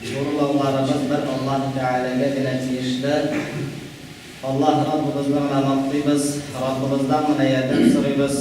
Җурулауларыбыз бер Аллаһ Тәгаләгә генә тиешле. Аллаһ Раббыбызны гына мактыйбыз, Раббыбыздан гына ярдәм сорыйбыз.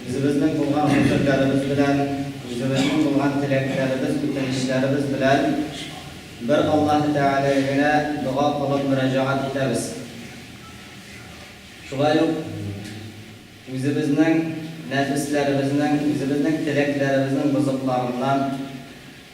Үзебезнең булган фикерләребез белән, үзебезнең булган теләкләребез, үтенечләребез белән бер Аллаһ Тәгаләгә генә дога кылып мөрәҗәгать итәбез. Шулай ук үзебезнең нәфесләребезнең, үзебезнең теләкләребезнең бозыкларыннан,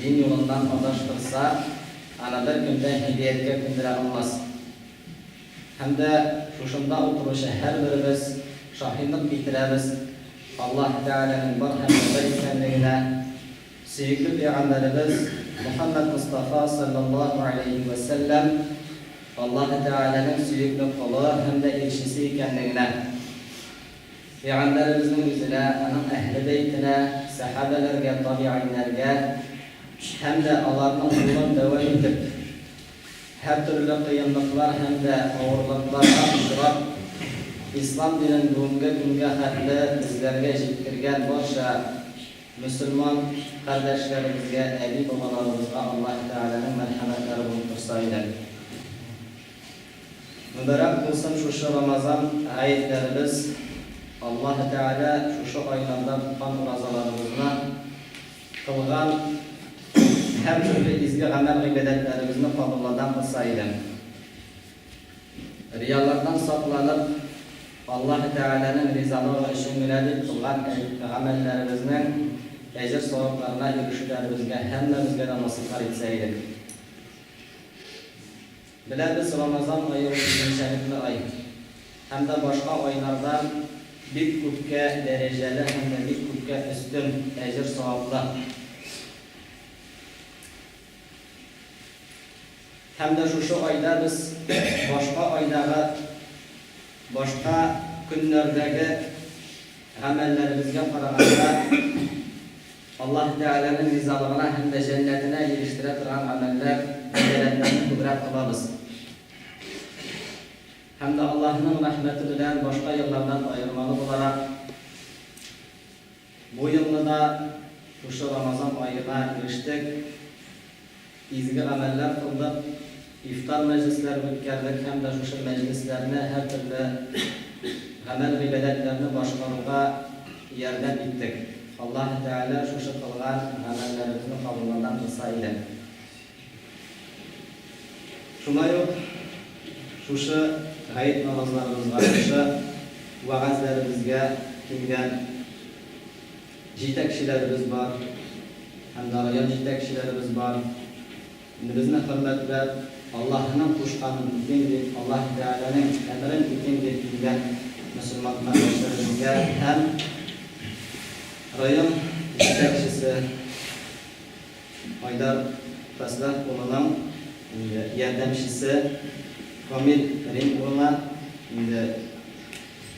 Дин юлыннан адаштырса, аны бер кем дә һидәяткә күндерә алмас. Һәм дә шушында утыручы һәрберебез шаһидлык китерәбез Аллаһы Тәгаләнең бар һәм дә бер икәнлегенә, сөекле пәйгамбәребез Мөхәммәд Мостафа салләллаһу галәйһи вә сәлләм Аллаһы Тәгаләнең сөекле колы һәм дә илчесе икәнлегенә. Пәйгамбәребезнең үзенә, аның әһле бәйтенә, сәхабәләргә, табигыйньнәргә һәм дә аларның юлын дәвам итеп, һәртөрле кыенлыклар һәм дә авырлыкларга очрап, Ислам динен бүгенге көнгә хәтле безләргә җиткергән барча мөселман кардәшләребезгә, әби-бабаларыбызга Аллаһы Тәгаләнең мәрхәмәтләре булып торса иде. Мөбарәк булсын шушы Рамазан гаетләребез, Аллаһы Тәгалә шушы айларда тоткан уразаларыбызны, кылган һәртөрле изге гамәл-гыйбадәтләребезне кабулладан кылса иде. Риялардан сакланып, Аллаһы Тәгаләнең ризалыгы өчен генә дип кылган гамәлләребезнең әҗер-савапларына ирешүләребезгә һәммәбезгә дә насыйплар итсә иде. Беләбез, Рамазан ае ул үзенчәлекле ай. Һәм дә башка айлардан бик күпкә дәрәҗәле һәм дә бик күпкә өстен әҗер-саваплы. Һәм дә шушы айда без башка айдагы, башка көннәрдәге гамәлләребезгә караганда, Аллаһы Тәгаләнең ризалыгына һәм дә җәннәтенә ирештерә торган гамәлләр, бәндәләрнене күбрәк кылабыз. Һәм дә Аллаһының рәхмәте белән башка еллардан аермалы буларак, бу елны да шушы Рамазан аена ирештек. Изге гамәлләр кылдык, ифтар мәҗлесләре үткәрдек һәм дә шушы мәҗлесләрне һәртөрле гамәл-гыйбадәтләрне башкаруга ярдәм иттек. Аллаһы Тәгалә шушы кылган гамәлләребезне кабулларга булса иде. Шулай ук шушы гает намазларыбызга, шушы вәгазьләребезгә килгән Җитәкчеләребез бар һәм дә район җитәкчеләребез бар. Инде безне хөрмәтләп, Аллаһының кушканын үтим дип, Аллаһи Тәгаләнең әмерен үтим дип килгән мөселман кардәшләребезгә һәм район җитәкчесе Айдар Фәслах улының инде ярдәмчесе Камил Рим улына инде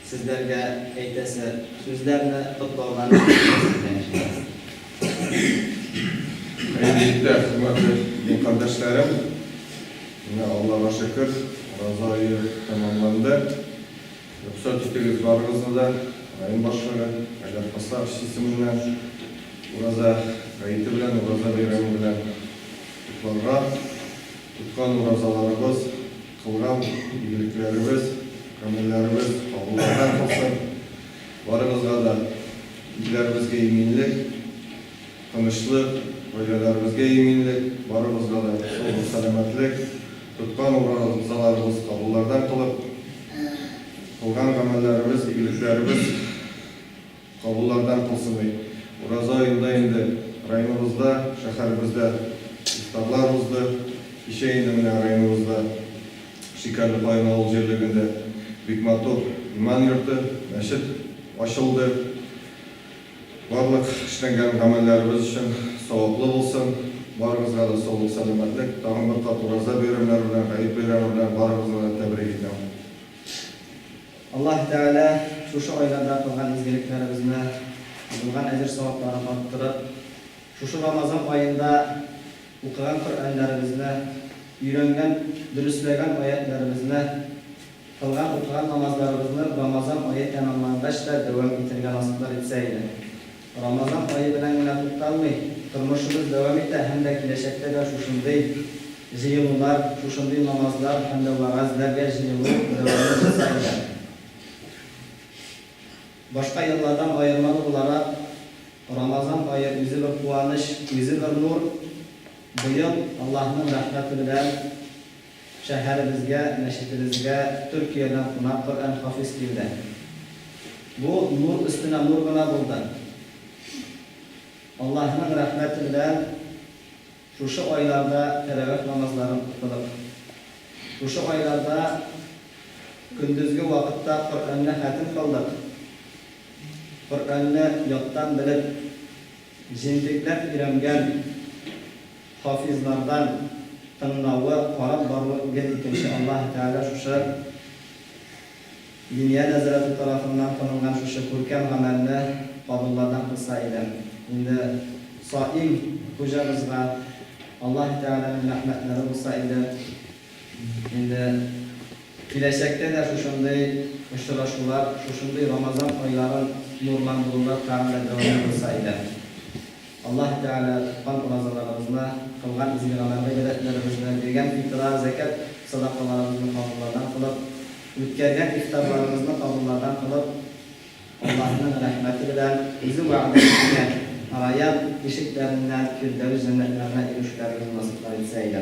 Сезләргә әйтәсе сүзләрне котлаудан башкага сездән ишетәбез. Хәерле-иртә, хөрмәтле дин кардәшләрем! Менә Аллага шөкер, ураза ае тәмамланды. Рөхсәт итегез барыгызны да, район башлыгы, Айдар Хасапович исеменнән ураза гаете белән, ураза бәйрәме белән котларга. Тоткан уразаларыбыз. Туган игелекләребез, гомерләребез кабуллана калсын! Барыбызга да, илләребезгә иминлек, тынычлык, гаиләләребезгә иминлек, барыбызга да шул сәламәтлек, тоткан уразаларыбыз кабуллардан кылып, кылган гамәлләребез, игелекләребез, Кабуллардан кызыный. Ураза аенда инде районыбызда, шәһәребездә ифтарлар узды. Кичә инде менә районыбызда Шикәрле Каен авыл җирлегендә бик матур иман йорты, мәчет ачылды. Барлык эшләнгән гамәлләребез өчен саваплы булсын. Барыгызга да саулык, сәламәтлек. Тагын бер кат Ураза бәйрәмнәре белән, Гает бәйрәме белән барыгызны да тәбрик итәм. Аллаһ Тәгалә шушы айларда кылган изгелекләребезне, булган әҗер-савапларын арттырып, шушы Рамазан аенда укыган Коръәннәребезне, өйрәнгән, дөресләгән аятьләребезне, кылган, укыган намазларыбызны Рамазан ае тәмамлангач та дәвам итәргә насыйплар итсә иде. Рамазан ае белән генә тукталмый, тормышыбыз дәвам итә һәм дә киләчәктә дә шушындый җыелулар, шушындый намазлар һәм дә вәгазьләргә җыелу дәвамын җәза итә. Башка еллардан аермалы буларак, Рамазан ае үзе бер куаныч, үзе бер нур. Быел Аллаһның рәхмәте белән Шәһәребезгә, мәчетебезгә Төркиядән кунак Коръән хафиз килде. Бу нур өстенә нур гына булды. Аллаһының рәхмәте белән шушы айларда тәравих намазларын укыдык. Шушы айларда көндезге вакытта Коръәнне хәтем кылдык. Коръәнне яттан белеп, җентекләп өйрәнгән. Хафизлардан тыңлавы, карап баруы гел икенче Аллаһы Тәгалә шушы Диния нәзарәте тарафыннан кылынган шушы күркәм гамәлне кабуллардан кылса иде. Инде Саим хуҗабызга Аллаһы Тәгаләнең рәхмәтләре булса иде. Инде киләчәктә дә шушындый очрашулар, шушындый Рамазан айларын нурландырулар тагын да дәвамлы булса иде. Аллаһ Тәгалә тоткан уразаларыгызны, кылган изге гамәл-гыйбадәтләрегезне, биргән фитра, зәкят садакаларыгызны кабуллардан кылып, үткәргән ифтарларыгызны кабуллардан кылып, Аллаһының рәхмәте белән Үзе вәгъдә иткән Раят ишекләреннән Фирдәүс җәннәтләренә ирешүләрегезне насыйплар итсә иде.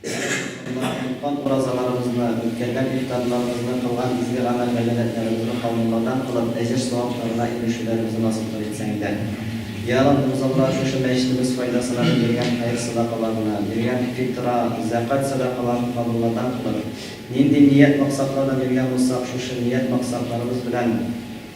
Әле Рамазанда оныткан уразаларыбызны, үткәргән ифтарларыбызны, кылган изге гамәл-гайбәдәтләребезне калынлардан кылып, әҗер-савапларына ирешүләребезне насыйп кыл итсәң дә. Йә Раббым, озакрак шушы мәчетебез файдасына дип биргән хәер-садакаларны, биргән фитра, зәкать сәдакаларын калынлардан кылып, нинди ният-максатларда биргән булсак, шушы ният-максатларыбыз белән,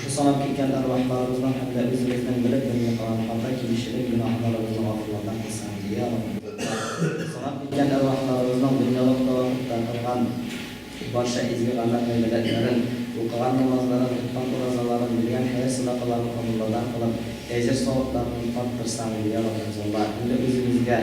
Шушы санап киткән әрвахларыбызның һәм дә үзебезнең белеп белми калган хата килүчелек гөнаһларыбызны гафулардан кылсын, ди, йа Раббым. Санап киткән әрвахларыбызның дөньялык тәвафыкта кылган барча изге гамәл-гыйбадәтләрен, укыган намазларын, тоткан уразаларын, биргән хәер-садакаларын кабуллардан кылып, әҗер-савапларын арттырсаң, ди, йа Раббым, золла. Инде үзебезгә.